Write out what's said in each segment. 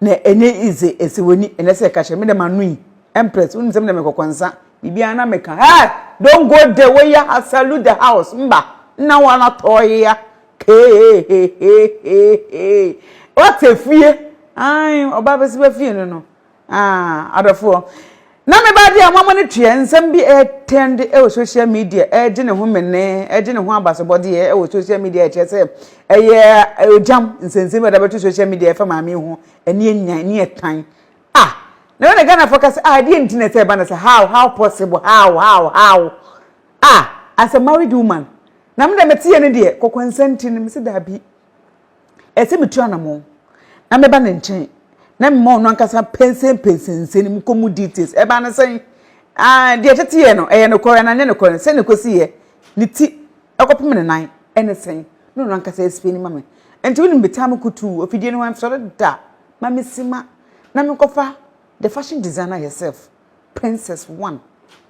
na ɛnyɛ easy ɛsɛ w'ani ɛnɛ sɛ ɛka hyɛ me dɛm ano yi empress wonim sɛ me dɛm ɛkɔkɔ nsa biribiara na meka hey don't go there woyɛ ha salute the house mba nna wɔn atɔɔye ya hehehehehe wɔte fie ayi ɔbaa bɛsi bɛ fie no no. Ah, adɔfoɔ. Na me ba deɛ mama no tua nsɛm bi ɛtɛnd ɛwɔ social media ɛgye ne ho mene ɛgye ne ho abasobɔdeɛ ɛwɔ social media ɛkyerɛ sɛ ɛyɛ ɔgyam nsɛnsɛm ɛda bɛto social media ɛfa maame yi ho ɛne ɛnya ɛne ɛtan ah na ɛwɔ na Ghanafoɔ ka sɛ ah ɛdeɛ nti na ɛsɛ ɛba na sɛ how how possible how how how ah as a married woman na me deɛ mete yɛ no deɛ kɔkɔnsa nti no me se daabi Ɛsɛ sɛ mitu anammɔn na meba ne nkyɛn na mema ɔno ankasa pɛnsɛmpɛnsɛn nsɛm kɔ mu details. Ɛbaa no sɛn? Ah, deɛ tete yɛ no, ɛyɛ nokorɛ anaa ɛnyɛ nokorɛ no, sɛn na ɛkɔsiiɛ, ne ti kɔpem ne nan ne sɛn, na ɔno ankasa explaini ma me. Enti wonim me taa mekutuu afidie no ho nsɔre da ma mesi ma na menkɔfa the fashion designer herself, Princess One,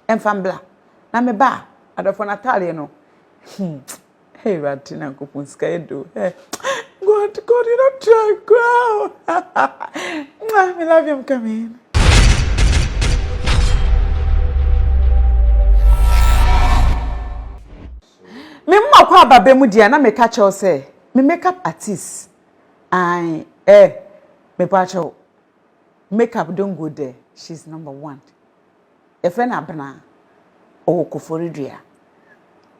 mfa mbra na meba a, adɔfoɔ no ataadeɛ no, hmm. Hey Awurade Nyankopɔn sika yɛ do. Hey God God you don't try koraa. Mwah, me love you I'm coming. Me mma kwa ababe mu dia na me ka kyɛw sɛ me makeup artist. Ai eh me pa kyɛw. make up don't go there she's number one yɛfrɛ no abenaa ɔwɔ koforidua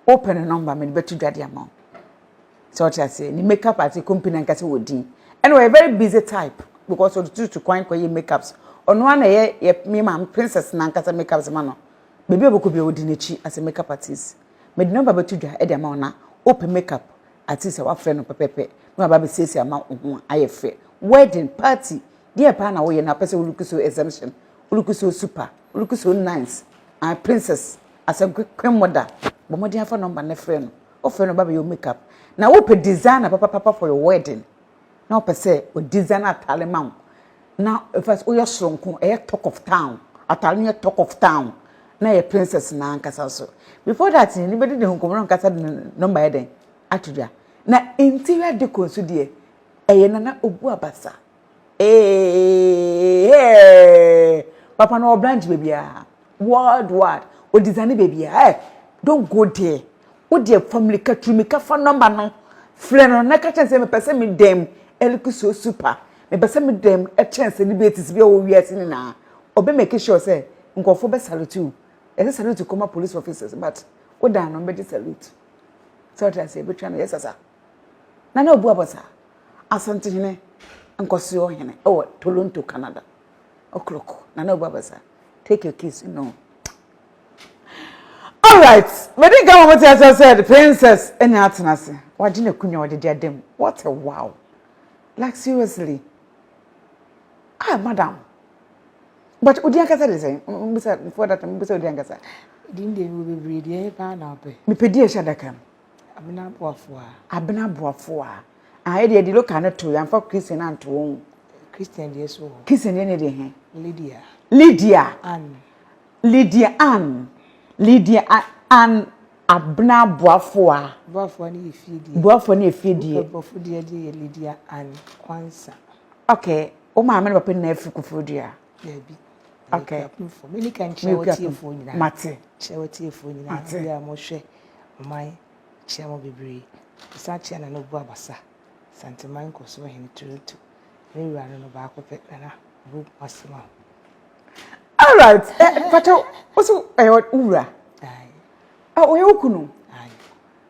wopɛ no nɔmba mede bɛto dwa de ama wo sɛ ɔte aseɛ ne make up ate company ankasa wɔ din ɛna ɔyɛ very busy type because ɔde tutu kwan kɔyɛ make ups ɔno ara na ɛyɛ yɛ me maame princess na ankasa make ups ma no baabi a ɔbɛkɔ bi a ɔdi n'akyi as a make up artist mede nɔmba bɛto dwa de ama wo na wopɛ make up Ate sɛ wafrɛ no pɛpɛpɛ na waba abɛsiesie ama wo ho ayɛ fɛ. Wedding, party, deɛ paa na woyɛ na wopɛ sɛ wo look so exemption, wo look so super, wo look so nice, ah, princess, asɛnkwe, queen mother. Bɔ mmɔden afa number no frɛ no. Wofrɛ no ɔba abɛyɛ wo makeup. Na wopɛ designer papapapa for your wedding. na ɔpɛ sɛ ɔ design ataare ma wo na fa sɛ woyɛ soronko ɛyɛ talk of town ataare no yɛ talk of town na ɛyɛ princess no ankasa nso before that no bɛdi ne ho nkɔmmɔ na ɔnkasa de ne nɔmba ayɛ dɛn ato dwa na interior decor nso deɛ ɛyɛ nana obu abasa ee papa no wɔ branch baabiara. World wide ɔdesign baabiara eh don't go there wo deɛ fa mirika tu mirika fa number no frɛ no na ka kyerɛ no sɛ mepɛ sɛ me dan mu look so super mepɛ sɛ me dan mu ɛkyɛn sɛ debates bi a ɛwɔ wiase nyinaa ɔbɛ make sure sɛ nkurɔfoɔ bɛ salute wo ɛsɛ salute kɔma police officers but wo dan no bɛgye salute sɛ ɔte aseɛ bɛtwa no yɛ sasa na na ɔbu abɔ saa asantehene nkɔsoɔ hene ɛwɔ Toronto Canada. O'clock. Nana Obabasa, take your kiss. No. All right. Me di gama mo tiasa said, princess, enya atenase. Waji na kunya wadi di adem. What a wow. Like seriously. Ah, madam. But odi ankasa de sɛn? Mbisa, for that, mbisa odi ankasa. Di ndi ewu bebree di ɛyɛ paa na ɔpɛ. Mepɛ di ɛhyɛ adaka mu. Abena Boafua. Abena Boafua. Ah, ɛdeɛ ɛde local no to, yɛamfa Christian no anto wɔn. Christian deɛ so wɔ. Christian deɛ ne deɛ he. Lydia. Lydia. Ann. Lydia Ann. Lydia Ann Abena Boafua. Boafua ne yɛ fie deɛ. Boafua ne yɛ fie deɛ. Wopɛ Borɔfo deɛ deɛ yɛ Lydia Ann Kwansa. Okay, wo maame ne papa nyinaa firi Koforidua. Dabi. Okay. Mini kan kyerɛ wo tiefoɔ nyinaa. Mate. Kyerɛ wo tiefoɔ nyinaa. Mate. Bi a mo hwɛ ɔman kyerɛ mo bebree. Sa kyerɛ na no bu abasa. Santeman nkɔso hene Toronto. Ne wura no no baako pɛ na na bu masema. All right. Eh, pato, osu eh wura. Ai. Ah, oye okunu. Ai.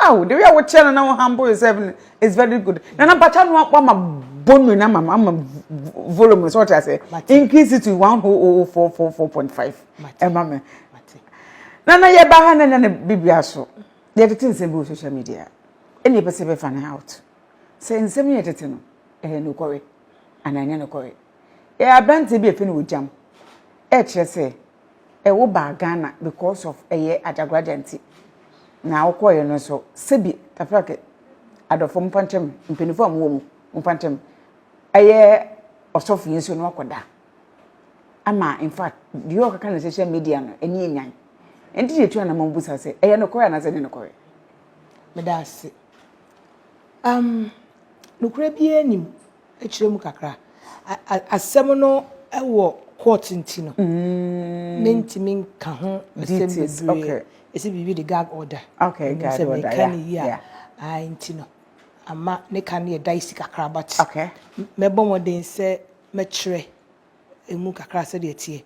Aw, the way a wokyerɛ no na wo humble yourself no is very good. Na na mpakyɛ no wama volume no ama ama volume so ɔte ase. Increase it to one whole oh, oh four four four point five. Ɛma me. Na na yɛ ba ha na na ne bibia so. Yɛ tete nsɛm bi wɔ social media. Ɛna yɛ pɛsɛ bɛ fa ne out. Sɛ nsɛm yɛ tete no, ɛyɛ no kɔre. Ana ɛnyɛ no kɔre. Yɛ abrante bi efe no wɔ jam. Ɛkyerɛ sɛ ɛ wo baa Ghana because of ɛ yɛ Agyagoragya nti na wo kɔɔ yɛ no nso sɛ bi Taferake adɔfoɔ momfa nkyɛ me mpaninfoɔ a mo wɔ mu momfa nkyɛ me ɛ yɛ ɔsɔfo yi nso na wakɔ da ama in fact deɛ ɔkɔ ka no social media no ɛni yɛ nyan ɛnti deɛ tu anamɔ mbu sa sɛ ɛ yɛ no kɔɛ anasɛ ne no kɔɛ me da ase um, nokora biara nim. Ɛkyerɛ mu kakra. Asɛm no wɔ court nti no mentumi nka ho asɛm bebree. Ɛsɛ biribi de gag order. Okay, gag order. Ɛsɛ meka ne yie a. Ae nti no ama ne ka no yɛ dicey kakra but mɛbɔ mmɔden sɛ mɛkyerɛ ɛmu kakra sɛdeɛ ɛteɛ.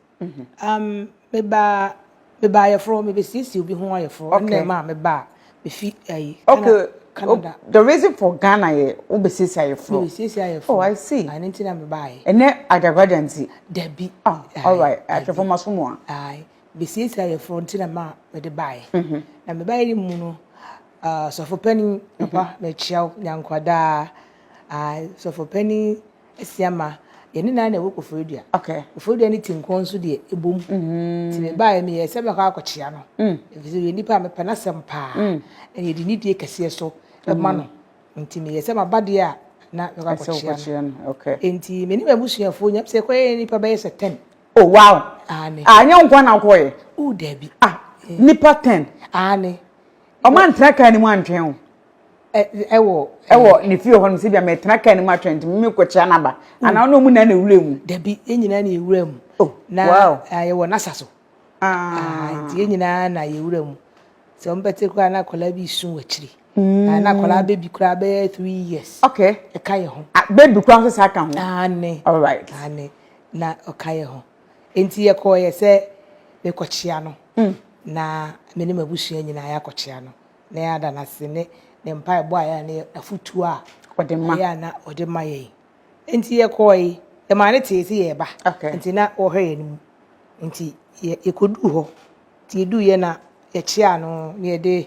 Um, meba, meba ayɛforɔ, mebɛsiesie obi ho ayɛforɔ. Okay. Ɛnna ɛma a meba a, mefi ayi. Okay. Ɛna Canada. Oh, the reason for Ghana yɛ wobɛsiesie ayɛforɔ. Mebɛsiesie ayɛforɔ. Oh, I see. Ah, ɛno nti na meba ayɛ. Ɛnɛ adagwada nti. Dabi. Ah, all right. Ahwɛfoɔ ma so mu a. Ae, bɛsiesie ayɛforɔ nti na ma mede ba ayɛ. Na meba ayɛ no mu no, ah, sɔfo panin, papa, mekyia wo, nyankwadaa. Ae, sɔfo panin, Asia ma yɛn ne nan na ɛwɔ Koforidua. Okay. Koforidua ne Tinkɔn nso deɛ ɛbom. Mm -hmm. Ti mebaeɛ meyɛ sɛ mɛkɔ akɔkyea no. Mm. Ɛfiri sɛ yɛ nipa a mepɛ n'asɛm paa. Mm. Na yɛde nidie kɛseɛ so ɛma no. Mm. Nti meyɛ sɛ maba deɛ a na mɛkɔ akɔkyea no. Okay. Nti me ne m'abusuafoɔ nyam sɛ kɔyɛ nipa bɛyɛ sɛ ten. Oh wow. Aane. Ah, nyɛ nkoa na wokɔyɛ. Oh, dabi. Ah, eh. nipa ten. Aane. Ɔma ntra kaa ne mu antwɛn o. ɛwɔ ɛwɔ ne fie hɔ no sɛ bia mɛtena kaa no mu atwɛn nti mimi kɔkyea n'aba mm. anaa ɔne ɔmu na na ewura mu dabi yɛn nyinaa na ewura mu oh, na yɛwɔ n'asa so ah. nti yɛn nyinaa na yɛwura mu sɛ wɔn bɛte koraa na akwadaa bi sun wɔ akyiri mm. na akwadaa bɛbi koraa bɛyɛ three years ɛka yɛ ho ah, bɛbi koraa nso saa ka ho ane ane na ɔka yɛ ho nti yɛkɔɔ yɛ sɛ mekɔkyea no mm. na me ne m'abusua nyinaa yɛakɔkyea no na yɛada no ase ne ne mpaebɔ a yɛ a ne afotuo a ɔde ma yɛ a na ɔde ma yɛn nti yɛkɔɔ yi yɛmaa ne tee sɛ yɛreba nti na wɔhwɛ yɛn mu nti yɛkɔduu hɔ nti yɛduu yɛ na yɛkyea no ne yɛde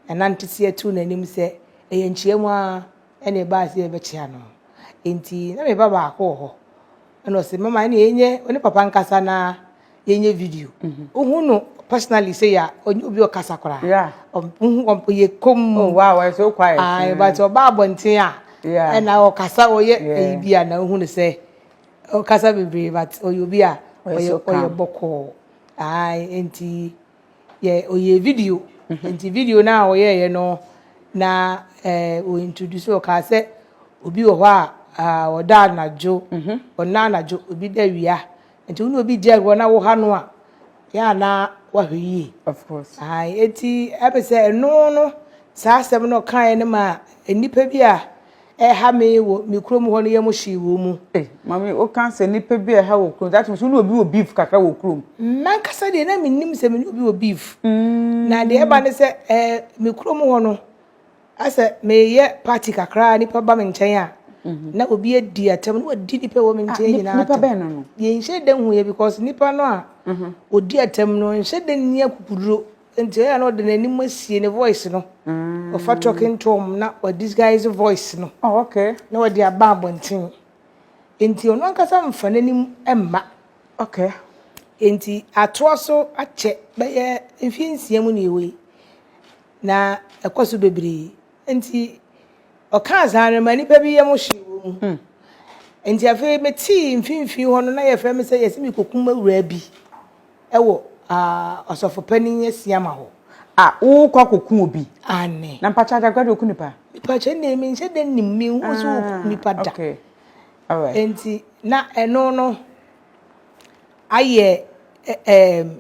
nanante si ato n'anim sɛ ɛyɛ nkyia mu a ɛne ɛbaa sɛ yɛbɛkyea no nti na meba baako wɔ hɔ ɛna ɔse mama ɛne yɛnyɛ ɔne papa nkasa na yɛnyɛ video wohu no personally sɛ yɛ ɔnyɛ obi ɔkasa koraa ɔyɛ kom oh, wow, ɛsɛ wo quiet ae but ɔba abɔnten a ɛna ɔkasa ɔyɛ ɛyi bi a na wohu no sɛ ɔkasa bebree but ɔyɛ obi a ɔyɛ bɔkɔɔ ae nti yɛ ɔyɛɛ video nti video no a ɔyɛeɛ no na ɔ introduce ɔkaa sɛ obi wɔ hɔ a ɔda anadwo ɔna anadwo obi da awia nti wo ne obi gya hɔ na woha no a yɛ a na wahwɛ yie ɛti ɛpɛ sɛ ɛno no saa asɛm no ɔkaeɛ no ma nnipa bi a ɛha me wɔ me kurom hɔ no yɛ mo hyee wɔ mu. Mami o kan sɛ nipa bi ɛha wɔ kurom that means wone obi wɔ beef kakra wɔ kurom. Mankasa deɛ na menim sɛ mene obi wɔ beef na deɛ ɛba ne sɛ ɛɛ me kurom hɔ no asɛ meyɛ party kakra nipa ba me nkyɛn a na obi adi atɛm na wadi nipa wɔ me nkyɛn nyinaa atɛm. Nipa bɛn no no? Yɛnhyɛ da hu yɛ because nipa no a odi atɛm no nhyɛ da nni akukuduro. Enti ɛyɛ a na ɔde n'anim asie ne voice no, ɔfa talking tom na wa disguise voice no oh, okay. na ɔde aba abɔnten. Enti ɔno ankasa mfa n'anim mma. Okay. Enti atoa so akyɛ bɛyɛ mfie nsia mu ne ɛwɔ yi na ɛkɔ so bebree. Enti ɔkaa saa no ma nnipa bi yam hwee wɔ mu. Hmm. Enti afei metee mfimfini hɔ no na yɛfrɛ me sɛ yɛsɛ mekɔkum awuraa bi. wɔ ɔsɔfo panyin asiama hɔ a wokɔ akɔku obi aane. Na mpakyɛ agyagua de oku nipa? Mepakyɛ ɛnna mi nhyɛ dɛ nim mi hu so oku nipa da. Okay. Alright. Enti na ɛno no ayɛ ɛɛm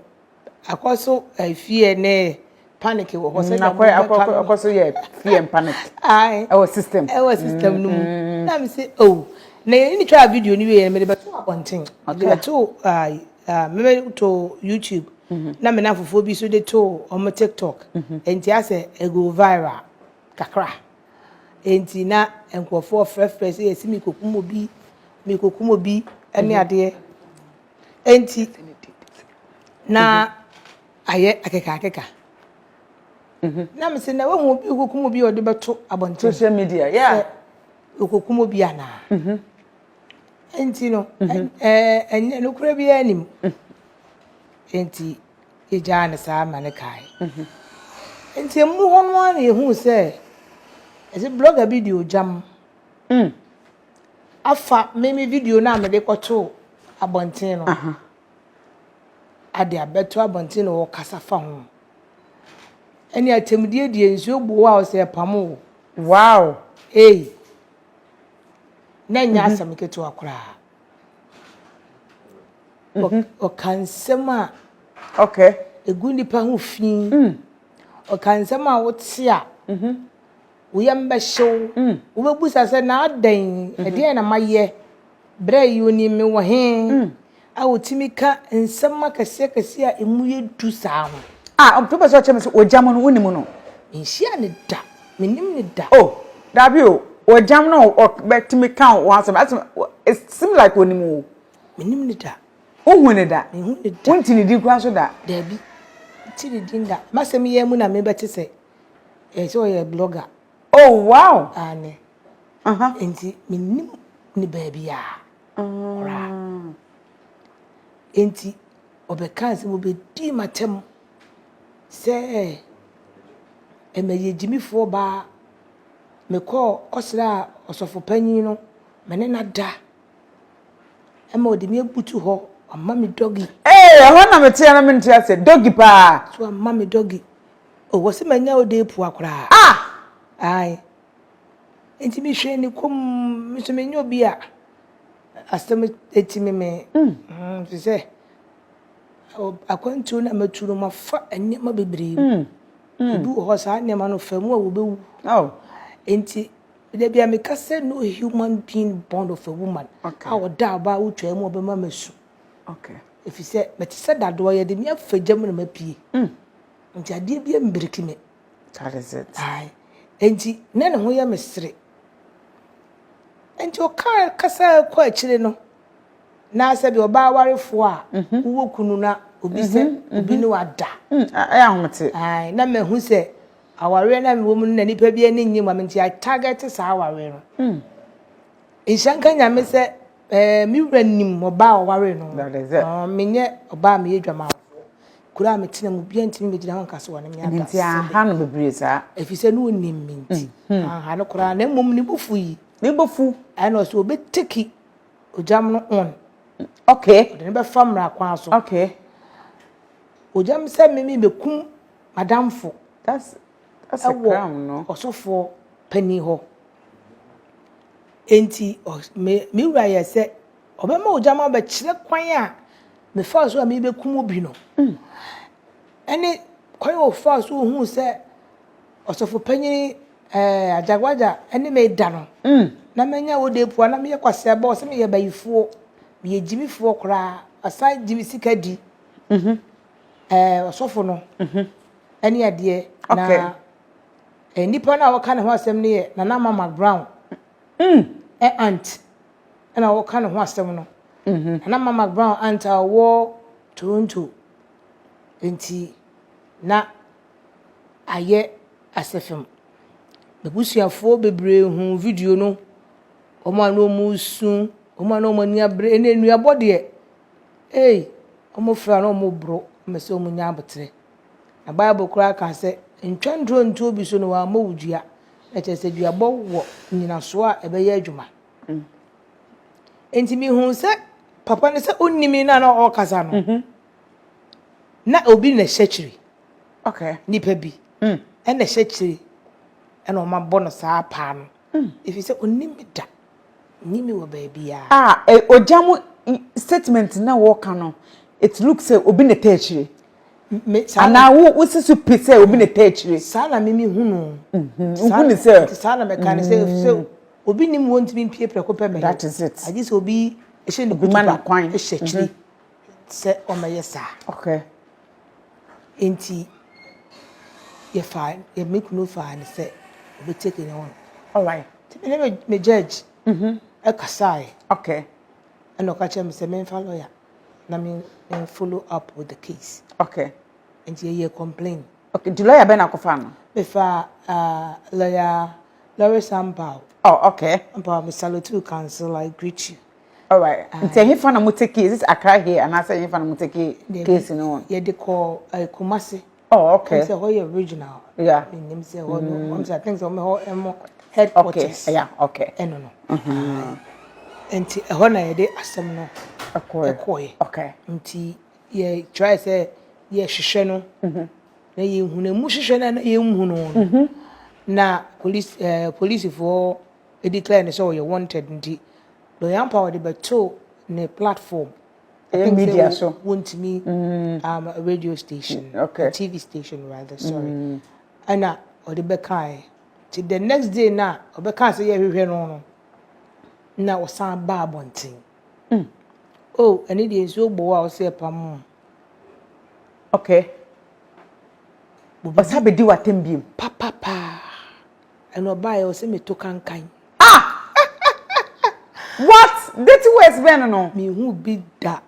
akɔ so ɛfie ne panic wɔ hɔ sɛ na mo bɛka akɔ akɔ akɔ so yɛ fear and panic ɛwɔ system ɛwɔ system no mu mm-hmm. na mi sɛ oh na yɛn ni twa video ni wei yɛn mi de bɛto abɔnten mi de bɛto ayi mi bɛ to youtube mm-hmm. na mi na fufuo bi so de to wɔn tiktok mm-hmm. nti asɛ ego viral kakra nti na nkurɔfoɔ frɛfrɛ sɛ yɛsi mi kokum obi mi kokum obi ɛne adeɛ nti na. Ayɛ akekaakeka. Mhm. Na me se na wahu obi okokum obi a ɔde bɛto abɔnten. Social media, yeah. Okokum obi anaa. Mhm. Enti no, mhm. eh, ɛnyɛ nokora biara nim. Mhm. Enti yɛgyaa no saa ma no kae. Mhm. Enti ɛmu hɔ no ara na yɛhuu sɛ ɛsɛ blogger bi de ogyam mm. afa me me video no a mede kɔtoo abɔnten no. ade abɛto abɔnten na wɔkasa fa ho. Ɛne atɛmdie deɛ nsuo bu wo a ɔsɛ ɛpamo wo. Wow ei na ɛnyɛ asɛm ketewa koraa ɔka nsɛm a okay egu nipa ho fi ɔka nsɛm a wote a Wo yam bɛhye wo. Wobɛbisa sɛ, 'Na adɛn? Ɛdeɛn na mayɛ? Berɛ yi wonim me wɔ he a ɔtumi ka nsɛm akɛseakɛseɛ a emu yɛ duru saa ho? A, wobɛpɛ sɛ wokyerɛ me sɛ ɔgyam no, wonim no? Menhyiaa no da. Mennim no da. O, daabi o, ɔgyam no a ɔbɛtumi ka wo ho asɛm no, asɛm no, it seems like ɔnim wo. Mennim no da. Wonhuu no da. Menhuu no da. Wonte ne din koraa nso da. Daabi, mente ne din da. M'asɛm yi ara mu na mebɛte sɛ Ɛyɛ sɛ ɔyɛ blogger. Oh wow! Aane. Aha. Nti menim ne baabi a ɔra. Mm. Nti ɔbɛkaa sɛ wɔbɛdii m'atɛm sɛ mɛyɛ gyimifoɔ baa mekɔɔ kɔsraa ɔsɔfo panyin no me ne no ada ɛma ɔde me abutu hɔ ɔma me dɔgi. Ee ɛhɔ na meteɛ na mente aseɛ dɔgi paa. So ama me dɔgi Oh, wɔse manya wo dee pua koraa. Ah! Ae. Enti mehwɛɛ ne komm, me nso menyɛ obi a asɛm atimi me. Mm. Te sɛ akwantuo no a matu no, mafa nneɛma bebree mu. Mm. Ebi wɔ hɔ saa nneɛma no fa mu a wɔbɛwu. Oh. Enti da bi a meka sɛ no human being born of a woman a ɔda ɔbaa wotwaa mu a ɔbɛma masu. Okay. Ɛfiri sɛ mete sɛ dadoɔ yɛde me afa gya mu na mapue. Mm. Nti adeɛ bi mbiriki me. That is it. Aye. Nti na ne ho yɛ me sere. Nti ɔka kasa kɔ akyire no na sɛ bi ɔbaa awarefoɔ a mhm. wowɔ kunu na obi sɛ mhm, mhm. obi ne wada. Mm, ɛyɛ ahomete. Aye. Na mahu sɛ awareɛ na mewɔ mu no na nipa bi ani nye mu nti I target saa awareɛ no. Mm. Nhyɛ nka nyame sɛ Ɛɛ me wura nim ɔbaa a ɔwaree no ho. Menyɛ ɔbaa a meyɛ adwamanfoɔ. Kuro a metena mu, obiara ntumi mmɛgyina ho nka sɛ ɔne me ada sini. Nti anha no bebree saa? Ɛfiri sɛ na ɔnim me nti, anha no koraa. Na mmom ne bo fu yi. Ne bo fu? Ɛna ɔsɛ ɔbɛteki ogyam no on. Okay. Ɔde no bɛfa mmara kwan so. Okay. Ogyam sɛ me mebɛkum m'adamfo. That's a crime no. Ɛwɔ ɔsɔfoɔ panin hɔ. Enti me me wura yɛɛ sɛ ɔbɛma ogya ma ɔbɛkyerɛ kwan a mefaa so a merebɛkum obi no, ɛne kwan a ɔfaa so ohuu sɛ ɔsɔfo panyin eh, Ajagwaja ne me reda no. Na manya Odeepua, na meyɛ kwasea bɔɔ sɛ meyɛ bayifoɔ, meyɛ gyimifoɔ koraa, wasan gye me sika di, eh, ɔsɔfo no, ɛne adeɛ. Na Okay. Nnipa no a wɔka ne ho asɛm no yɛ Nana Mama Brown mm. aunt na wɔka ne ho asɛm no. Mm -hmm. Nana Mama Brown aunt a ɔwɔ Toronto. Nti na ayɛ asɛfam. M'abusuafoɔ bebree hu video no. Wɔn a na wɔn resu, wɔn a na wɔn ani abere, ɛna nnuabɔ deɛ, ei, wɔn fira na wɔn boro, wɔn sɛ wɔn nya aboterɛ. Na Bible koraa ka sɛ, Ntwɛntorɔ ntu obi so na wammɔ wo dua. Ɛkyerɛ sɛ duabɔ wɔ nnyinasoɔ a ɛbɛyɛ adwuma. Enti mehuu sɛ papa no sɛ ɔnni me na na ɔrekasa no, mhm. na obi na ɛhyɛ kyiri. Nipa bi hmm. na ɛhyɛ kyiri na wɔabɔ no saa paa no. Ɛfiri sɛ ɔnnim me da. Ɔnnim me wɔ baabiara. Ah eh ogya mu statement na wɔka no it look sɛ obi na ɛtaa akyire. Me saa na. Anaa wo si so pi sɛ obi na ɛtaa akyire. Saa na me me hunu o. Wohu ne sɛ. Nti saa na me ka no sɛ sɛ obi nim wɔ ntumi mpie prɛko pɛ mɛyɛ. That is it. Agye sɛ obi hyɛ ne kutupa hyɛ akyire sɛ ɔmɛyɛ saa. Okay. Enti yɛfaa yɛ me kunu faa no sɛ ɔbɛtake ne ho. Alright. Nti me ne me me judge ɛkasaeɛ. Okay. Ɛna ɔka kyerɛ me sɛ memfa lawyer na me me follow up with the case. Okay. Nti yɛyɛ complain. Okay, nti lawyer bɛn na akɔfaa no? Mefaa uh, lawyer Lawrence Ampaw. Oh, okay. Ampaw, me salute you counsel, I greet you. All right. Nti ɛhe fa na mo take is it Accra here and I say ɛhe fa na mo take case no on? Yɛ de kɔ eh, Kumasi. Oh okay. Sɛ hɔ yɛ regional. Yeah. Nim sɛ hɔ no. Mm. Sɛ I think sɛ wɔn hɔ ɛmo headquarters. Okay. Yeah. Okay. Ɛno no. Mhm. Nti ɛhɔ na yɛ de asɛm no. Ɛkɔɛ. Ɛkɔɛ. Okay. Nti yɛ try sɛ yɛ hwehwɛ no. Mhm. Na yɛ hu na emu hwehwɛ na yɛ hu no. Mhm. Na police ɛɛ eh, polisifoɔ. declare no sɛ ɔyɛ wanted nti Doyampa ɔde bɛto ne platform ɛyɛ media so wontumi um, radio station okay. TV station rather sorry mm. ɛna ɔde bɛkae nti the next day na ɔbɛka sɛ yɛhwehwɛ no no na ɔsan ba abɔnten mm. oh ɛne deɛ nsuo bɔ hɔ a ɔsɛ ɛpa mu okay ɔsa bɛdi w'atɛm biom papapaa And ɔbaeɛ ɔse meto kankan. Ah! What? Dirty words bɛn no no? Menhuu bi da.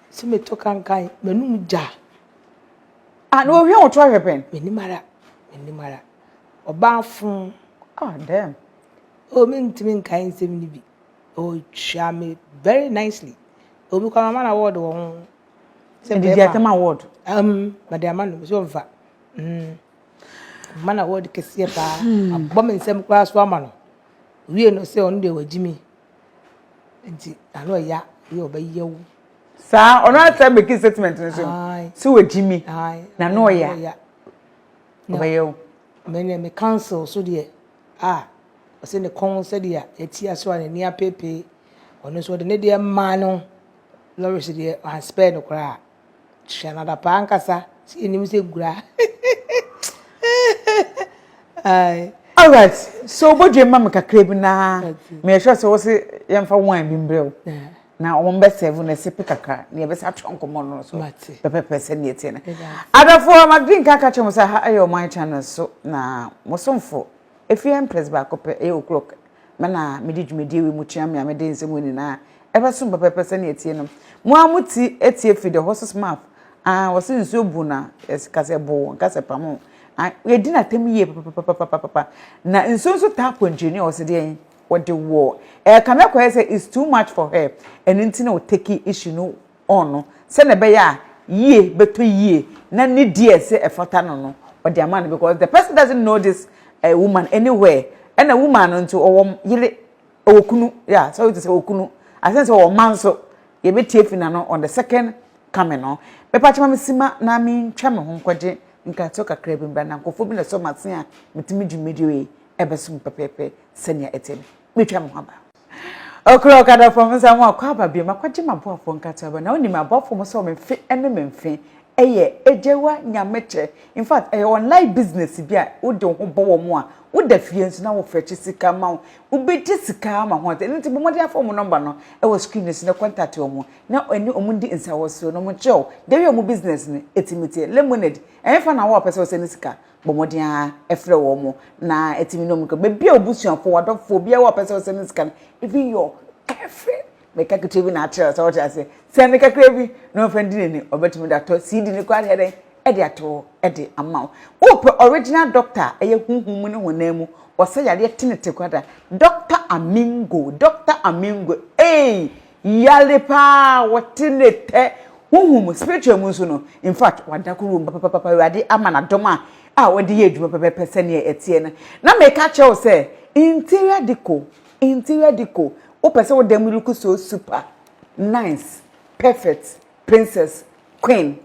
Se meto kankan, m'anum gya. Ah, na ohwɛ wo to ahwɛ pɛn? Menim ara, menim ara. Ɔbaa fo. Ah, damn. Oh, mentumi nkae nsɛm no bi. Oh, twaa me very nicely. Oh, me kɔ mama no award wɔ ho. Sɛ bɛɛma. Ɛde ama award? Um, mede ama no, sɛ ɔmfa. Mm. Mma na wɔde kɛseɛ paa abɔ me nsam koraa so ama no wie no sɛ ɔno deɛ wagyi me nti ano ɛya yɛ ɔbɛyɛ wo saa ɔno asɛ meki statement no so sɛ wagyi me na no ɔya ɔbɛyɛ wo mene me council so deɛ a ɔsɛ ne kɔn sɛdeɛ ɛti aso a n'ani apeepee ɔno nso ɔde ne deɛ maa no lɔres deɛ anspɛɛ no koraa Sua no adapaa ankasa sɛ yɛnim sɛ gura ae. Alright, so wobɔdwe ma me kakra bi na meyɛ sure sɛ wo se yɛmfa wine bi mbrɛ wo. Na wɔn bɛ serve na ɛsipi kakra na yɛbɛsa atwerɛ nkɔmmɔ no so pɛpɛpɛ sɛ neɛ teɛ no. Adɔfoɔ ma drink aka kyerɛ mo sɛ ha ɛyɛ ɔman channel so na mo somfo ɛfiri Empress baako pɛ ɛyɛ Okurok. Me na mede dwumadie wei mu tua mea mede nsɛm wei nyinaa ɛbɛsom pɛpɛpɛ sɛnea ɛtie no. Mo ara mo ti ɛtie firi the horse's mouth. Ah, wɔse nsuo bu na ɛka sɛ boo, nka sɛ pamo. Ah, yɛdi no atɛm yie papapapapapa. Na nsuo nso taa kɔntwireni a ɔse deɛn, ɔde wɔ ɛka no akɔyɛ sɛ it's too much for her, ɛno nti na ɔteki issue no ɔn no sɛnea ɛbɛyɛ a yie bɛtɔ yie na ne di a ɛsɛ ɛfata no no ɔde ama no because the person doesn't know this uh, woman anywhere ɛna woman no nso ɔwɔ yere ɔwɔ kunu yeah sorry to say ɔwɔ kunu asan sɛ ɔwɔ mma nso yɛbɛtie fi na no on the second coming no bɛpa kyɛma me sima na mentwa me ho nkɔgye nkatɔ kakra bi mbra na nkɔfoɔ bi na ɛsɔ m'ase a metumi dwumadie yi ɛbɛsom pɛpɛɛpɛ sɛnea ɛteɛ no metwa me ho aba Ɔkora ɔkadɔfoɔ ho sɛ, Moakɔ aba bio, makɔgye m'aboafoɔ nkate aba. Na wonim m'aboafoɔ mo sɛ wɔn fe ne me mfe yɛ Agyewa nyamekyɛ. In fact, ɛyɛ online business bi a wode wo ho bɔ wɔn a woda fie nso na wɔfɛkye sika ma wo. Wobɛgye sika ara ma ho ate. Ɛno nti, bɔ mmɔden fa wɔn nɔmba no wɔ screen no so na kɔntate wɔn na ɛne wɔn ndi nsawɔsoɔ na wɔnkyerɛ wo dɛn a wɔn business no tumi teɛ. Lemonade, ɛhefa na wo a wopɛ sɛ wosɛne sika Bɔ mmɔden ara frɛ wɔn na ɛtumi ne wɔn kɔ. Baabi a obusuafo, wadɔfo, obiara a ɔpɛ sɛ ɔsɛ ne sika no, even your girlfriend, meka ketewa bi na akyerɛ sɛ ɔte aseɛ. Sɛ ne kakra bi na ɔmfa ndi n'ani, ɔbɛtumi de atɔ CD no koraa deɛ dɛn de ato de ama wo. Wopɛ original doctor a ɛyɛ honhom mu ne honam mu, ɔsɛ yadeɛ tenetene koraa da, Doctor Amingo, Doctor Amingo, ei! Yare paa wɔte ne tɛ honhom mu, spiritual mu nso no, in fact wada koro mu papapapa, Awurade ama no adom a a ɔde yɛ adwuma pɛpɛpɛ sɛdeɛ ɛteɛ no. Na meka kyerɛ wo sɛ interior decor, interior decor, wopɛ sɛ wo dan mu look so super, nice, perfect, princess, queen,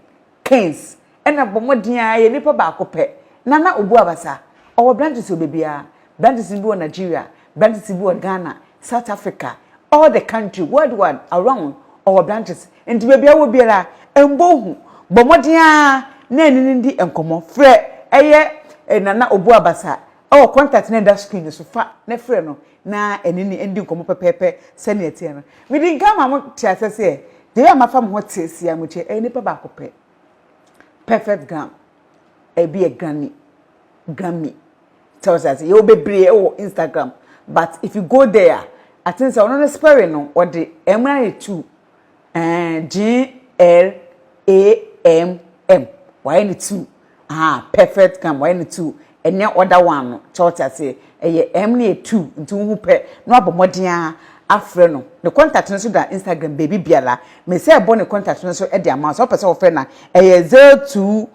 Keynes na bɔ mmɔden ara yɛ nipa baako pɛ. Nana Obu Abasa, ɔwɔ branches wɔ baabiara. Branches no bi wɔ Nigeria, branches bi wɔ Ghana, South Africa, all the country, worldwide, around, ɔwɔ branches. Nti baabi a wɔ biara, mmɔ hu, bɔ mmɔden ara na ɛne no ndi nkɔmmɔ. Frɛ ɛyɛ Nana Obu Abasa wɔ contact no a ɛda screen no so, fa na frɛ no. na ɛne no ndi nkɔmmɔ pɛpɛɛpɛ sɛnea ɛteɛ no. Mede nka ama mo te aseɛ sɛ, deɛ a mafa me ho te si amokyɛ ɛyɛ nipa baako pɛ, Perfect Gram, ɛbi yɛ Grammy, Grammy, sɛ wote aseɛ. Yɛwɔ bebree ɛwɔ Instagram, but if you go there a, I think sɛ ɔno no spelling no, ɔde M no ayɛ two, ɛɛ, G-R-A-M-M, wayɛ no two, Ahaa perfect come wayɛ no two ɛnyɛ other one no kyɛ wote aseɛ ɛyɛ ɛm no yɛ two nti wohu pɛ na wabɔ mmɔden ara afrɛ no ne contact no nso da Instagram baabi biara mese ɛbɔ ne contact no nso de ama wo sɛ wopɛ sɛ wofrɛ no a ɛyɛ zero two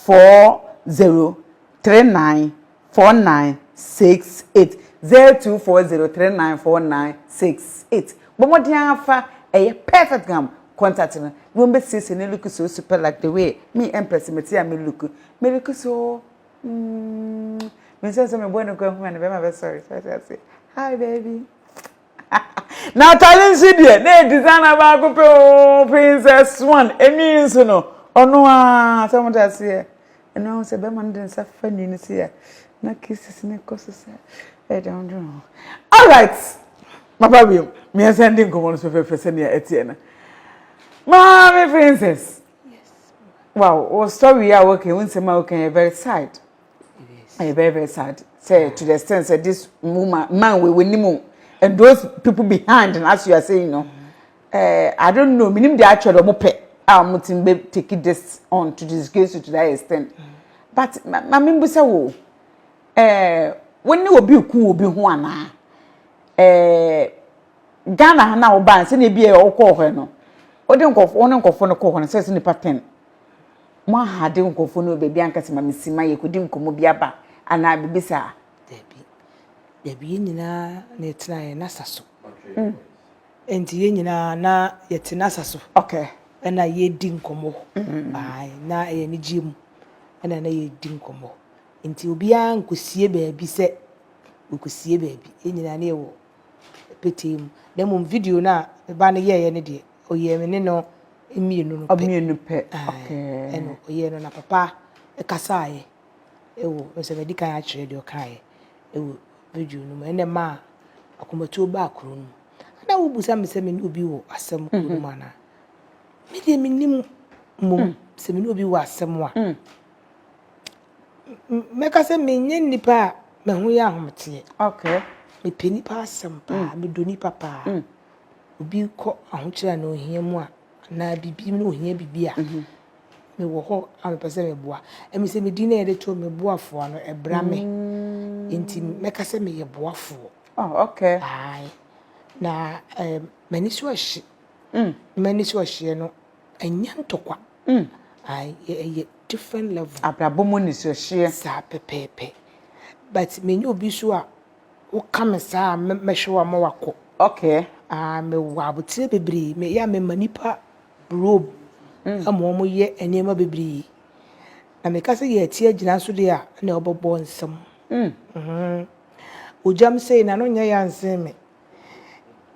four zero three nine 4968 0240394968 Bɔ mmɔden ara fa ɛyɛ perfect gam contact no na wɔbɛsiesie no look so super like the way me Empress mete a me look me look so mm me nso sɛ mebɔɔ ne kɔ ahunu a ne bɛrima bɛsɔre so ate aseɛ hi baby Na atare nso deɛ, na ɛyɛ designer baako pɛ oo, Princess One, ɛnwi nso no, ɔno ara, sɛ mote aseɛ. Ɛno ara wo sɛ bɛrima no de ne nsa fa nwi no sei a, na kisses no kɔ so sɛ ɛyɛ dɛ ho dwene ho. Alright, maba bio, yɛnsan ndi nkɔmmɔ no so fɛfɛɛfɛ sɛdeɛ ɛteɛ no. Maame Princess, wow, wo story yi a woka yi, wo nsɛm a woka yi, ɛyɛ very sad. yes ɛyɛ very very sad say to the extent say this woman man we wani mu and those people behind and as you are saying no uh, i don't know minim de atwa de ɔmo pɛ a ɔmo ti be take this on to disgrace you to that extent mm. but maame mbusa wo ɛɛ wɔn ne obi ku obi ho anaa ɛɛ ghana ha na ɔbaa sɛ na ebi yɛ ɔkɔɔ hɔ no ɔde nkɔfo ɔne nkɔfo no kɔɔ hɔ no sɛ sɛ nipa ten. moahade nkurɔfoɔ no wɔ baabi anka sɛ ma me sima yɛkɔdi nkɔmmɔ bi aba anaa biribi saa? Dabi. Dabi, yɛn nyinaa na yɛtena yɛn asa so. Mm. Nti yɛn nyinaa na yɛte n'asa so. Okay. Ɛna yɛdi nkɔmmɔ. Mm. Ae, na ɛyɛ anigyeɛ mu. Ɛna na yɛdi nkɔmmɔ. Nti obiara nkɔsie baabi sɛ wɔkɔsie baabi. Yɛn nyinaa na yɛwɔ petee mu, na mmom video no a me ba no yɛeɛ no deɛ, ɔyɛɛ me ne no mmienu no pɛ. Ɔmmienu pɛ, okay. Ɛna ɔyɛɛ no na papa kasaaeɛ ɛwɔ, sɛ madi kan akyerɛ deɛ ɔkaaeɛ ɛwɔ video no mu, ɛna ɛmaa akomatuo baa kuro no mu. Ana wobisa me sɛ me ne obi wɔ asɛm kuro no mu anaa? Me deɛ mennim mmom sɛ me ne obi wɔ asɛm a. Mɛka sɛ menyɛ nnipa a me ho yɛ ahometeɛ. Okay. Mepɛ nnipa asɛm paa, mm. medɔ nnipa paa. Mm. Obi kɔ ahokyerɛ na ohia mu a, anaa bibi na ohia bibi a, mhm. mewɔ hɔ a mepɛ sɛ meboa. Ɛmi sɛ medin na yɛde to meboafoɔ no, ɛbra me. Mm. Nti mɛka sɛ meyɛ boafoɔ. Oh, okay. Aye. Na eh, m'ani so ahye. Mm. M'ani so ahyeɛ no, Ɛnyɛ ntɔkwa. Mm. Ae, yɛ, ɛyɛ different level. Abrabɔ mu anisohyɛ. Saa pɛpɛɛpɛ. But menya obi nso a, woka me saa a, mɛ, mɛhwɛ wo ama wakɔ. Okay. Ah, mewɔ abotire bebree. Me, yɛ a mema nipa brob Mm. ama wɔn yɛ nneɛma bebree. Na meka sɛ yɛati agyina nso deɛ a, ɛna wɔbɛbɔ nsam. Mm. Mhm. Ogyam sei na no nyɛ ya nsen me.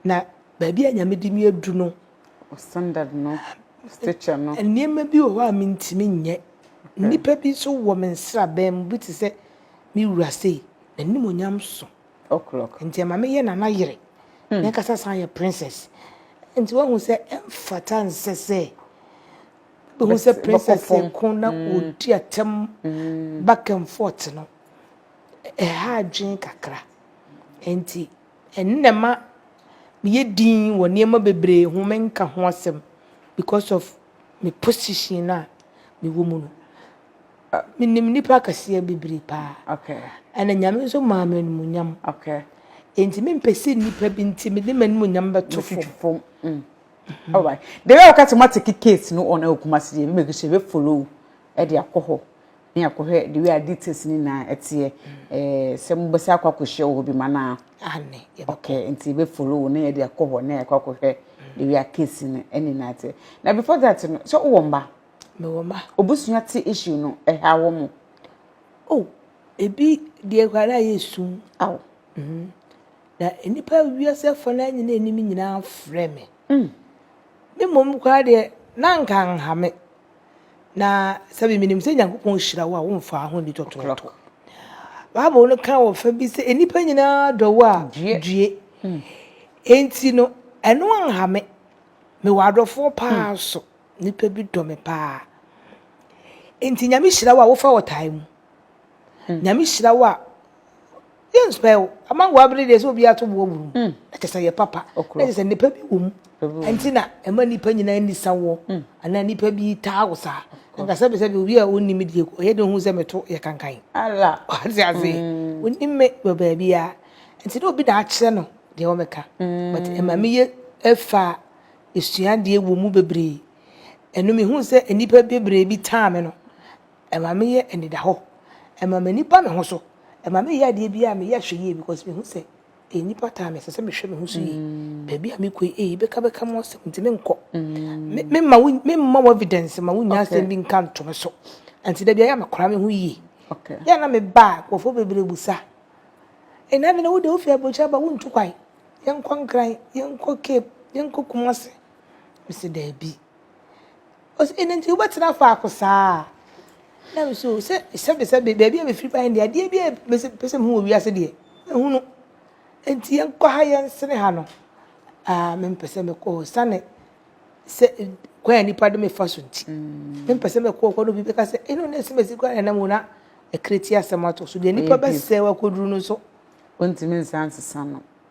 Na baabi a Nyame de me adu no, Standard no, stature no. Nneɛma bi wɔ hɔ a mintumi nyɛ. Nnipa bi nso wɔ me nsraban mu, bi te sɛ me wura sei, n'animuonyam so. O'clock. Nti ɛma meyɛ Nana yere. Hmm. N'ankasa san yɛ princess. Nti wahu sɛ ɛmfata nsɛ sɛ bɛhu sɛ princess ko na hmm. ɔdi atɛm hmm. back and forth no. Ɛha adwene kakra. Nti Ɛno na ɛma meyɛ dinn wɔ nneɛma bebree ho, menka ho asɛm because of me position a mewɔ mu no. Menim nnipa akɛseɛ bebree paa. Okay. Ɛna Nyame nso maa me animuonyam. Okay. Enti mempɛ sɛ nnipa bi nti mede m'animuonyam bɛto fam. Mm. All right. Deɛ ɛyɛ ɔka sɛ moate case no on Kumasi deɛ mebɛgu so yɛbɛfollow ɛde akɔ hɔ. Ne akɔhwɛ the way a details ne nyinaa ɛteɛ ɛɛ sɛ mo bɛsɛ akɔ akɔhyia wɔ hɔ bi ma na. Ane yɛbɛkɔ. Okay nti yɛbɛ follow na yɛde akɔ hɔ na yɛakɔ akɔhwɛ the way a case no ɛne nyinaa teɛ na before that no sɛ wowɔ mma. Mewɔ mma. Obusua te issue no ɛha wɔ mo. Oh ebi deɛ kura na ayɛ sum. Aw. Mhm na nipa wiase afɔ na nyina anim nyinaa frɛ me. Mm. Me mom kura deɛ na nka nhame. Na sɛbi menim sɛ Nyankopɔn hyira wo a womfaa ho nni tɔtɔɔtɔ. Bible no ka wɔ fa bi sɛ nnipa nyinaa dɔ wo a due. Hmm. Enti no ɛno anha me. Mewɔ adɔfoɔ paa hmm. so. Nnipa bi dɔ me paa. Enti Nyame hyira wo a wofa ɔtaa mu. Hmm. Nyame hyira wo a yɛ nsupɛ o ama wɔ abiri deɛ sɛ obi ato boɔ buru mm. ɛkyɛ sɛ yɛ papa ɛkyɛ sɛ nipa bi wɔ mu ɛnti na ɛma nipa nyinaa nisa wɔ mm. anaa nipa bi taa wɔ saa nka sɛbi sɛbi obi a ɔnni mi deɛ ɔyɛ de ho sɛ meto yɛ kankan ala ɔte ase mm. ɔnni mi wɔ baabi a ɛnti na obi na akyerɛ no deɛ wɔn ka but ɛma mi yɛ ɛfa esuadeɛ wɔ mu bebree ɛnu mi hu sɛ nipa bebree bi taa mi no. Ɛma me yɛ anidahɔ. Ɛma m'ani ba me ho so. Ɛma me yɛ adeɛ biara a me yɛ hwɛ yie because me hu sɛ ɛyɛ nipa time ɛsɛ sɛ me hwɛ me ho so yie. Baabi a me kɔ yi eii bɛka bɛka mu asɛm nti me nkɔ. Me me ma wo me ma wo evidence ma wo nya asɛm bi nka nto me so. Nti da biara yɛ a me kora me ho yie. Yɛ a na me ba a nkurɔfoɔ bebree busa ee na afei na wo deɛ wo firi abrokyire aba wo ntu kwan yɛ nkɔ nkran yɛ nkɔ cape yɛ nkɔ kumase me sɛ daabi Ɔse eno nti wobɛtena faako saa? Na me so sɛ sɛbesɛbe baabi a mefiri bae deɛ adeɛ biara mese pɛ sɛ mehu wɔ wiase deɛ mahunu nti yɛnkɔ ha yɛnsene ha no aa mempɛ sɛ mekɔ sane sɛ kwan a nipa de mefa so nti mm. mempɛ sɛ mekɔ kɔ no obi bɛka sɛ ɛno na ɛsi masi kora na ɛnam na ɛkere ti asɛm ato so deɛ nipa bɛsɛ wakɔduru no so ɔntumi nsa nsesa no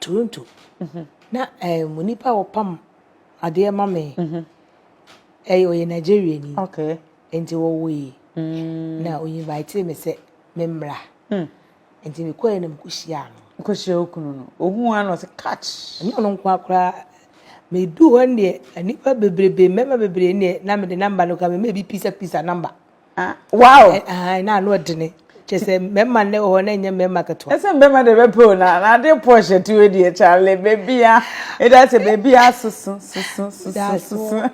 Toronto na um, onipa a ɔpam adeɛ ma me ɛyɛ ɔyɛ Nigeria ni okay. nti wɔwɔ yi mm. na ɔinvite me sɛ memmra mm. nti mekɔɛ na mekɔhyiaa no nkɔhyia wo kunu no ɔhu a na ɔsɛ catch ɛnyɛ ɔno nko akoraa medu hɔ ndeɛ nnipa bebrebe mmarima bebree ndeɛ na mede namba no ka me ma ebi pisa pisa namba Ah, wow. Eh, ah, na ano ɔdene. Kyɛ sɛ mmarima nnɛ wɔ hɔ na ɛnyɛ mmarima ketewa. Ɛsɛ mmarima de bɛpɛ o na na ade pɔsh ati wɔ deɛ kyale beebi a ɛda sɛ beebi a soso soso soso soso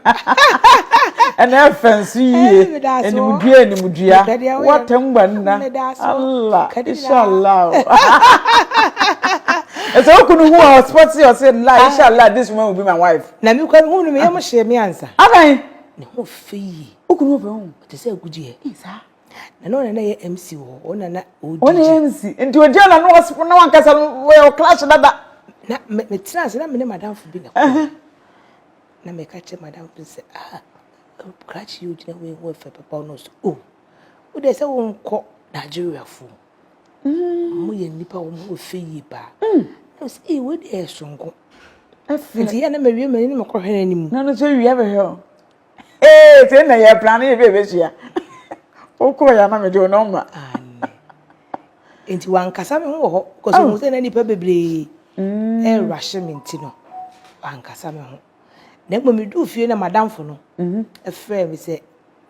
ɛna ɛfɛ nso yie animdua animdua wata ngba nna Allah inshallah ɛsɛ okunu hu a ɔspɔt sɛ ɔsɛ la inshallah this woman will be my wife. na mi kura mi hu no mi yɛ mo hyɛ mi ansa. adan. ne ho fɛ yie. Okunu ɔfɛ ho te sɛ agudi ɛ. Eh, saa. Na na ɔna na yɛ MC wɔ hɔ. Ɔna na odi. Ɔna yɛ MC. Nti ogyina na no ɔspo na wankasa no wɔ clash dada. Na me me tena ase na me ne madamfo bi na kɔ. Na me ka kyerɛ madamfo sɛ ah clash yi ogyina wei ho ɛfɛ papa ɔno so. Oh. Wo de sɛ wo nkɔ Nigeria fo. Mm. Mo yɛ nipa wo mo fe yi pa. Mm. Na sɛ eh wo de ɛsonko. Ɛfɛ. Nti yɛ na me wie mani na me kɔ hwɛ n'anim. Na no so wie bɛhwɛ o. ee sɛ na yɛ plan yɛ bɛ bɛ hyia okɔ yɛ ama mi de o nɔmba. nti wankasa mi ho wɔ hɔ kɔsɛ mo sɛ na nipa bebree ɛɛra hyɛ mi nti no wankasa mi ho na mmom mi du fie na madamfo no ɛfrɛ mi sɛ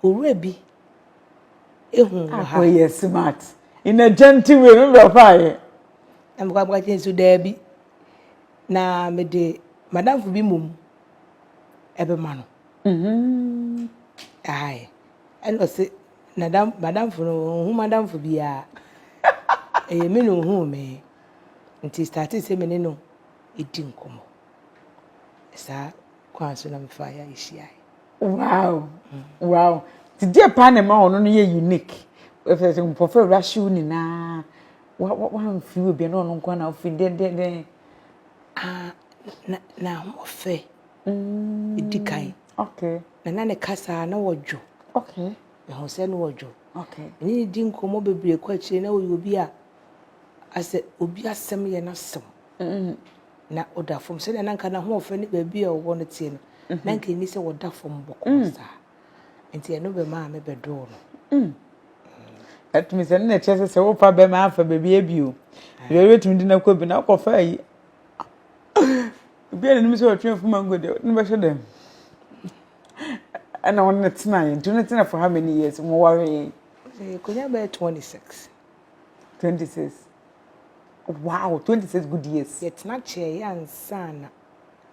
owurɛ bi ehu wɔ ha. akɔ yɛ smart in a gentle way mi bɛ fa yɛ. na mi kɔ abɔ akyi nso dɛɛbi na mi de madamfo bi mom. ɛbɛma no. Mm-hmm. Aye. Ɛna ɔse nadam madamfo no ɔnhu madamfo biara. Ɛyɛ me na ɔhuu me. Nti starte sɛ me ne no ɛdi nkɔmmɔ. Saa kwan so na mefa yɛ yɛhyiae. Wow. Mm. Wow. Nti deɛ paa na ɛma ɔno no yɛ unique. Ɛfɛ sɛ nkurɔfo awura hyew nyinaa. Wamfiri obi na ɔno nko na ɔfiri dɛndɛndɛn. Ah, na na ɔfɛ. Mm. Edi kan. Okay. Na na ne kasa na wɔdwo. Okay. Ɛho sɛ na wɔdwo. Okay. Ne ne di nkɔmmɔ bebree kɔ akyire na wɔyɛ obi a asɛ obi asɛm yɛ n'asɛm. Mm. Na ɔda fam sɛdeɛ na nka n'ahoɔfɛ ne baabi a ɔwɔ no teɛ no. Mm-hmm. Na nka ɛni sɛ wɔda fam bɔkɔɔ mm. saa. Nti ɛno bɛma a me bɛdoo no. Mm. Ɛtumi sɛ no na ɛkyɛ sɛ sɛ wofa bɛma afa baabi abio. Yɛ wobɛtumi de no akɔ bi na wokɔfa ayi. Obi a n'anim sɛ ɔtwe fo mango deɛ ne bɛhyɛ dɛm. Ɛna wɔn ne tena yɛ nti ne tena for how many years mo ware yɛn. Konya bɛyɛ twenty six. Twenty six. Wow, twenty six good years. Yɛtena kyɛɛ yɛ ansa na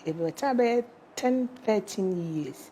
yɛbɛtena bɛyɛ ten thirteen years.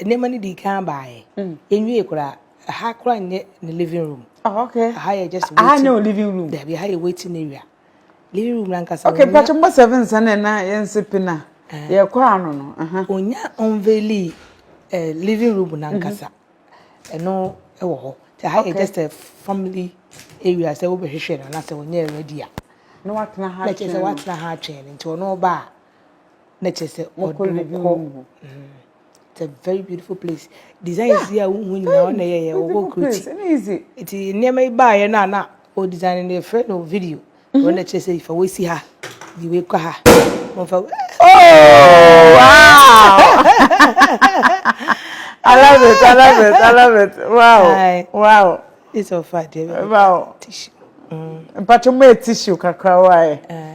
Nneɛma no dii kan baeɛ. Yɛnwiee koraa. Ɛha koraa nyɛ ne living room. Oh, okay. Ɛha yɛ just waiting. Ɛha nyɛ o living room. Dabi, ɛha yɛ waiting area. Living room na nkasa. Okay, pàtó mbɔ seven nsa na ɛna yɛn nse pina. Eh. Yɛ kɔ ano no. Onya unveili eh, living room na nkasa. Ɛno mhm. ɛwɔ hɔ. Ɛha yɛ just a family area sɛ wobɛhwehwɛ no anaasɛ wɔnyɛ ready a. Na watena ha atwɛn. Na kyerɛ sɛ watena ha atwɛn nti ɔno ɔba a. na kyɛ sɛ ɔde wo kɔ it's a very beautiful place design yeah. si a wohu nyinaa ɔna yɛyɛ wɔwɔ kuroti nti nneɛma yi baeɛ no a na o design no yɛfrɛ no video mm-hmm. ɔna kyerɛ sɛ fa wɔsi ha de wei kɔ ha wɔmfa oh wow I love it I love it I love it wow wow it's so fun wow tissue mm. mpatwo mu tissue kakra wae. Eh.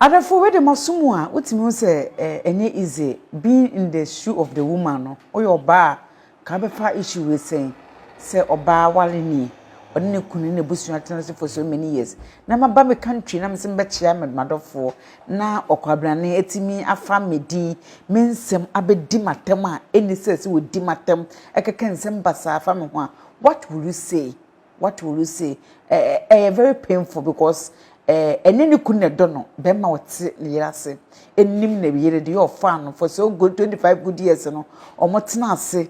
Adɔfo wei de maso mu a wotumi hu sɛ ɛnyɛ easy being in the shoe of the woman no woyɛ ɔbaa a ka bɛfa issue wei sɛn sɛ ɔbaa wale ni ɔne ne kunu ne n'abusua atena so for so many years na maba me country na mesɛ mebɛkyea m'adɔfoɔ na ɔkwabrane atumi afa me din me nsɛm abɛdi m'atɛm a ɛnni sɛ sɛ wɔdi m'atɛm ɛkɛkɛ nsɛm basaa fa me ho a what will you say what will you say ɛyɛ very painful because ɛne ne kun na ɛdɔ no bɛrima ɔte ne yere ase ɛnim ne yere deɛ ɔfaa no for so good twenty five good years no wɔn tena ase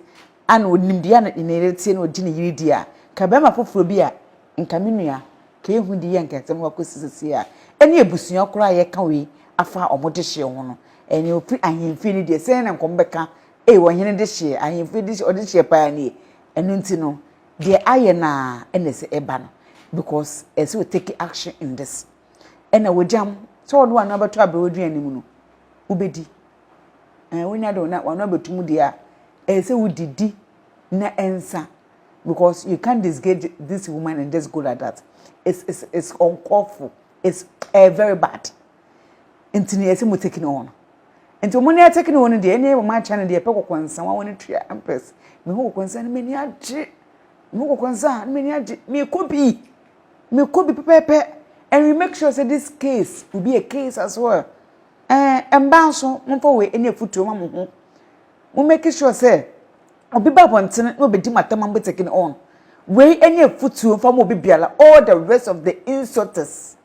ana onim deɛ na ne yere tie na odi ne yere di a ka bɛrima foforɔ bi a nka me nua ka ehu di yɛ nka nsɛm no akɔsi sisi a ɛne abusua koraa a yɛka wei afa wɔn de hyɛ ho no ɛne ofiri ahemfie no deɛ sɛn na nkɔm bɛka ee wɔn hene de hyɛ ahemfie de hyɛ ɔde hyɛ paa nie ɛno nti no Deɛ ayɛ no a ɛna ɛsɛ ɛba no because ɛsɛ sɛ o take action in this. Ɛna wagyam sɛ wɔde wɔn ano abɛto aberewaduane no mu no wobɛdi. Ɛɛ wonya de wɔn ano abɛto mu deɛ a ɛsɛ sɛ wodidi na ɛnsa because you can't disgage this woman and just go like that. It's, it's, it's uncalled for. It's uh, very bad. nti na yɛsɛ mo tekini wɔn nti wɔn ne atekini wɔn deɛ ɛne wɔn akyɛ no deɛ ɛpɛ kɔkɔ nsa wɔn ne tua mpɛs me ho kɔkɔ nsa no m'ani agye me ho kɔkɔ nsa no m'ani agye me kɔ bi me kɔ bi pɛpɛpɛ and we make sure say this case will be a case as well ɛɛ eh, mmaa nso mo nfa wɔ ɛne afutuo ma mo ho mo make sure sɛ obi ba abɔnten na obedi mo atam mo tekini wɔn wei ɛne afutuo nfa mo obi biara all the rest of the insulters.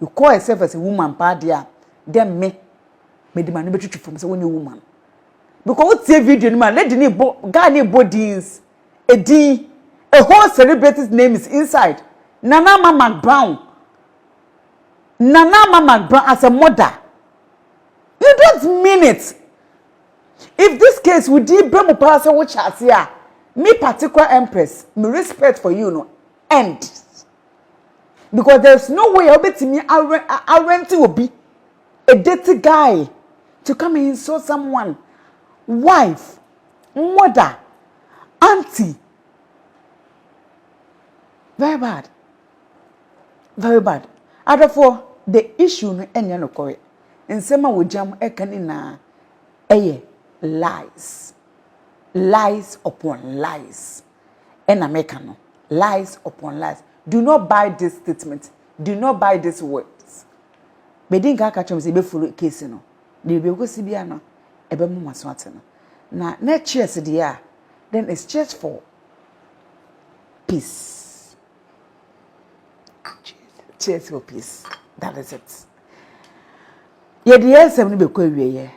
Mekɔɔe sɛ fɛsɛ woman paa deɛ a, dɛ me, mede m'ano bɛtwitwi fam sɛ wonyɛ woman. Because wotie video no mu a, lady no rebɔ, guy no rebɔ dins, edin, a whole celebrities names inside, Nana Ama McBrown, Nana Ama McBrown as a mother. You don't mean it. If this case wo din ba mu paa sɛ wohyɛ aseɛ a, me particular empress, me respect for you no ends. because there is no way a wobɛtumi arent obi a dirty guy to come and insult someone wife mother aunty very bad very bad adɔfoɔ the issue no ɛnyɛ nokɔre nsɛm a wɔgyam ɛka ne nyinaa ɛyɛ lies lies upon lies ɛna meka no lies upon lies do not buy this statement do not buy this words bedi nka aka kyerɛ me sɛ ebe follow case no deɛ baabi ɛkɔsi bia no ɛbɛ mo maso ate no na na cheers deɛ a then it's cheers for peace cheers for peace that is it yɛde yɛn nsɛm no bɛkɔ awieɛ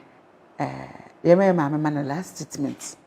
ɛɛ yɛma yɛ maame ma no last statement.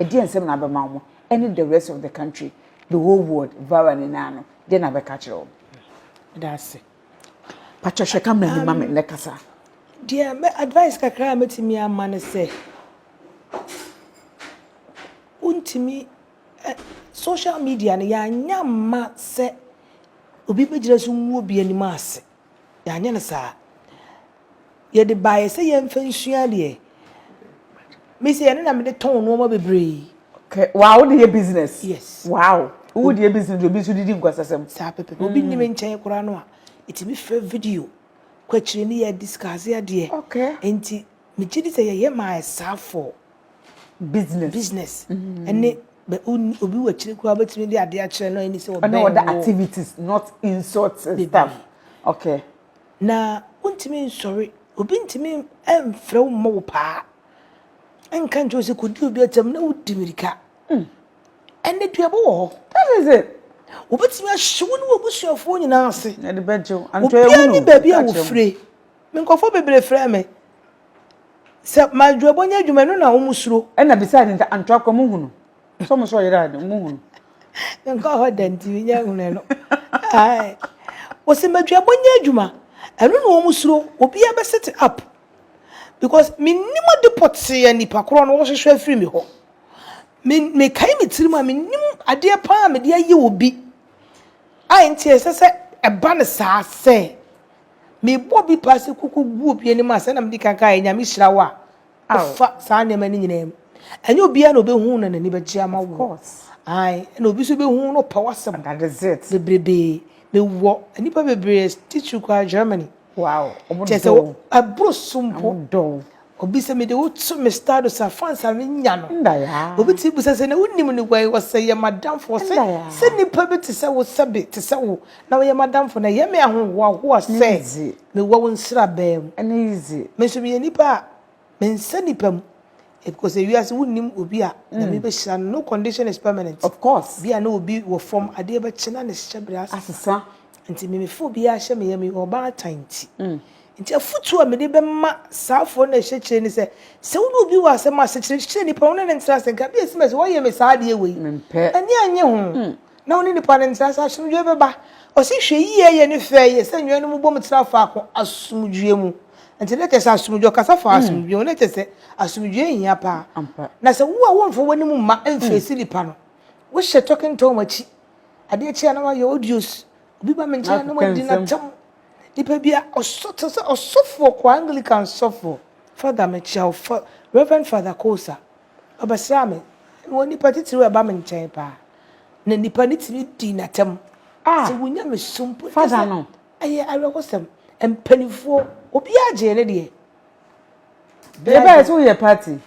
Ɛdeɛn nsɛm na abɛma wɔn ɛne the rest of the country, the whole world, Vara no nyinaa no, deɛn na abɛka akyerɛ wɔn? Meda ase. Pakyɛ hwɛ camera anim ma me na kasa. Deɛ mɛ advice kakra a mɛtumi ama no sɛ, wontumi ɛ social media no yɛanyɛ amma sɛ obi bɛgyina so ngu obi anim ase. Yɛanyɛ no saa. Yɛde baeɛ sɛ yɛmfa nsua adeɛ. Me sɛ yɛne na mede tɔn nnoɔma bebree. Kɛ waa wode yɛ business. Yes. Wow. Wode yɛ business obi nso didi nkɔsasɛm. Saa pɛpɛ. Mm. Obi nim nkyɛn koraa no a ɛtumi frɛ video kɔ akyire ne yɛ discuss adeɛ. Okay. Nti Me gye di sɛ yɛyɛ ma ayɛ saa for business business ɛne bɛ onni obi wɔ akyire koraa ɔbɛtumi de adeɛ akyerɛ no ɛni sɛ ɔbɛn wɔ ɔne ɔda activities not insult stuff okay na wontumi nsɔre obi ntumi mfrɛ wo mmɔ wo paa ɛnka nkyɛw sɛ kɔdi obi atam na wodi mirika hmm. ɛnɛ duabɔ wɔ hɔ that is it wobɛtumi ahye wo ne wɔ abusuafoɔ nyinaa ase ɛde bɛgyew antɔ ɛwunu obiara ne baabi a wɔfire Me nkurɔfoɔ bebree frɛɛ me sɛ m'adwuabɔ nyɛ adwuma, ɛno na wɔsuro. Ɛnna bisaa no sɛ, Antoa koraa, monhu no? Sɛ wɔn sɛ ɔyera deɛ, monhu no? Menkɔɔ hɔ da nti, mennya nhunuu no. Ae. Wɔse m'adwuabɔ nyɛ adwuma, ɛno na wɔsuro. Obiara bɛsete up because mennim ade pɔtee a nnipa korɔ no wɔhwehwɛ afiri me hɔ. Me, mekae me tirim a, mennim adeɛ paa a mede ayɛ obi a enti ɛsɛ sɛ ɛba no saa sɛ Mebɔ bi paa sɛ kuku gu obi anim a, sɛnea mede kan kaeɛ, Nyame hyira wo a wofa saa nneɛma no nyinaa mu. Ɛnyɛ obiara na ɔbɛhu na n'ani bɛgye ama wo. Ae, ɛna obi nso bɛhu na ɔpɛ w'asɛm bebrebe. Mewɔ nnipa bebree, Stichwil koraa, Germany. Wow, ɔmo dɔ wo. Kyerɛ sɛ, ɛboro so mpo. Ɔmo dɔ wo. Obi sɛ mede wo to me status a fans a me nya no. Obi tumi bisa sɛ na wo nim no wai ɔsɛ yɛ madamfo ɔsɛ sɛ nipa bi te sɛ wo sɛ be te sɛ wo na ɔyɛ madamfo no ɛyɛ me ahohoa hoa sɛ me wɔ wo nsra bɛɛ mu me nso me yɛ nipa a me nsɛ nipa mu ɛpiko sɛ wiase wo nim obi a na mm. me bɛ hyira no no condition is permanent of course bi a na obi wɔ fam adeɛ bɛ kyena ne hyɛ bere asesa nti me me fo bi a hyɛ me yɛ me ɔbaa tanti. Mm. Enti afotu a mede bɛma saa afoɔ no a ɛhyɛ akyire ne sɛ, sɛ wone obi wɔ asɛm ase, kyerɛkyerɛ nipa no, wone no ntra ase nka, bia sms, woayɛ me saa adeɛ wei, m'ani annye ho, na wone nipa no ntra ase, asomdwoeɛ bɛba. Ɔse hwɛ yie yɛ ne fɛ yɛ sɛ nnuanom bom tena faako asomdwoeɛ mu. Nti na kyerɛ sɛ asomdwoeɛ, ɔkasa faa asomdwoeɛ ho, na kyerɛ sɛ asomdwoeɛ hia paa. Na sɛ wo a womfa w'anim mma mfeesi nipa no, wohyɛ talking Tom akyi, adeɛ kye a na wayɛ audios, Obi ba me nkyɛn na wadi n'atam. Nipa bi a ɔsɔ te sɛ ɔsɔfoɔ kɔ Anglican sɔfoɔ. Father mekyia wo fa Reverend Father Kosa. Ɔbɛsraa me. Wɔ nipa titiriw a ɛba me nkyɛn paa. Na nipa no tumi di n'atam. Ah. Sɛ wonya me so mpo. Father no. Ɛyɛ awerɛhosɛm. Mpanimfoɔ obiara gyee ne deɛ. Bɛyɛ bɛyɛ sɛ woyɛ party.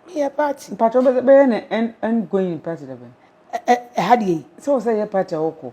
Meyɛ party. Mpatwɛ bɛyɛ ne end going party dɛbɛn. Ɛha deɛ yi. Sɛ wo sɛ yɛ party a wokɔ.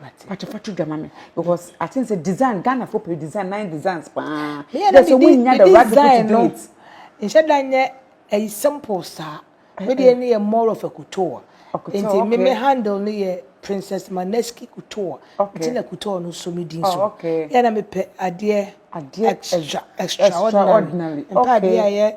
Mate. Pacho fa to dwa ma me because I think say design Ghana for pay design nine designs paa. Yeah, just so we nya the right people to do it. Nhyɛ da nyɛ a simple saa. Me de ne yɛ more of a couture. Nti me me handle ne yɛ Princess Maneski couture. Nti na couture no so me din so. Yeah, na me pɛ adeɛ extra extraordinary. Mpa adeɛ a yɛ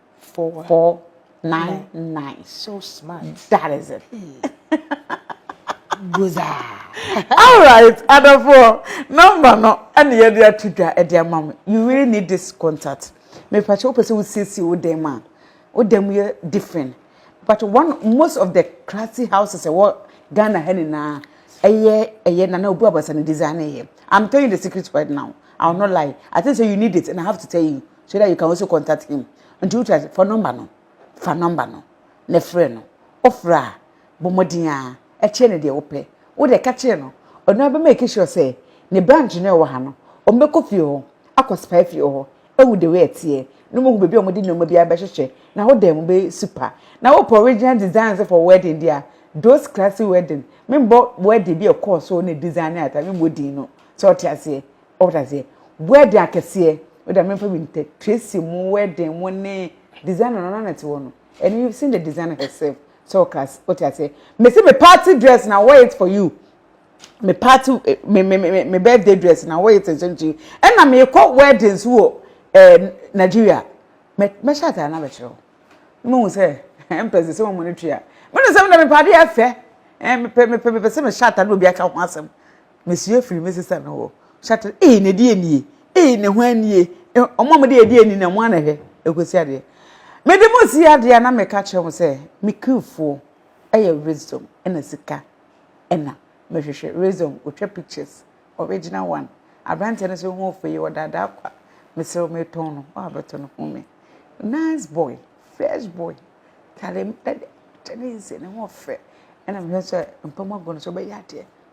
four, four nine, nine nine. So smart. That is it. Goza. All right, Adafo. Number no. Any yɛ de ato dwa ɛde ama mo. You really need this contact. Me pakyɛ o pɛ sɛ o siesie o dan mu a. O dan mu yɛ different. But one most of the classy houses ɛwɔ Ghana ha nyinaa ɛyɛ ɛyɛ nana obu abasa ne design ɛyɛ. I'm telling you the secret right now. I will not lie. I think so you need it and I have to tell you. so that you can also contact him nti wotu ase fa nɔmba no fa nɔmba no na frɛ no wofrɛ a bɔ mmɔden a ɛkyerɛ no deɛ wopɛ wode ɛka kyerɛ no ɔno abɛ make sure sɛ ne branch no ɛwɔ ha no ɔmbɛkɔ fie hɔ akɔ spy fie hɔ ehu the way ɛteɛ na ɔmahu baabi a wɔde nneɛma bi abɛhyehyɛ na wo dan mu bɛyɛ super na wopɛ original designs for wedding deɛ a those classy wedding membɔ wedding bi a ɛkɔɔ so ne design ne ata membɔ din no sɛ ɔte aseɛ Ɔte aseɛ. Wedding akɛseɛ. Wo deɛ menfa bi ntɛ. Tracy mo wedding mo ne designer no na na ɛte hɔ no. And you've seen the designer herself. Sɛ ɔka ase wote aseɛ. Mese me party dress na wore it for you. Me party eh, me me me me birthday dress na wore it nso nti you. Ɛna mekɔ wedding nso wɔ eh, Nigeria. Mɛ mɛhyɛ atare no abɛkyerɛ wo. Na mahu sɛ ɛmpɛ sɛ sɛ wɔn no twi a. Mene sɛ mede me paade afɛ. Eh, mepɛ mepɛ mepɛ sɛ mehyɛ atare na obi aka ho asɛm. Mesua firi me sista no hɔ. Ɔhyɛ atare, ee, na ɛdeɛ nie? Ee, na hwan nie? Wɔn a wɔde adeɛ ani na wɔn a na ɛhwɛ ɛkɔsi adeɛ. Mede mo si adeɛ a na meka kyerɛ mo sɛ me krifoɔ yɛ wisdom ɛna sika ɛna mehwehwɛ wisdom ɔtwa pictures original one aberanteɛ no sɛ ho ɔfɛ yi ɔdaadaa kwa mesrɛ metɔn no ɔabɛtɔ no ho me nice boy fresh boy tare ɛdɛ kyɛ ne nsɛ ne ho ɔfɛ ɛna mehwɛ sɛ mpam agu no so bɛyɛ adeɛ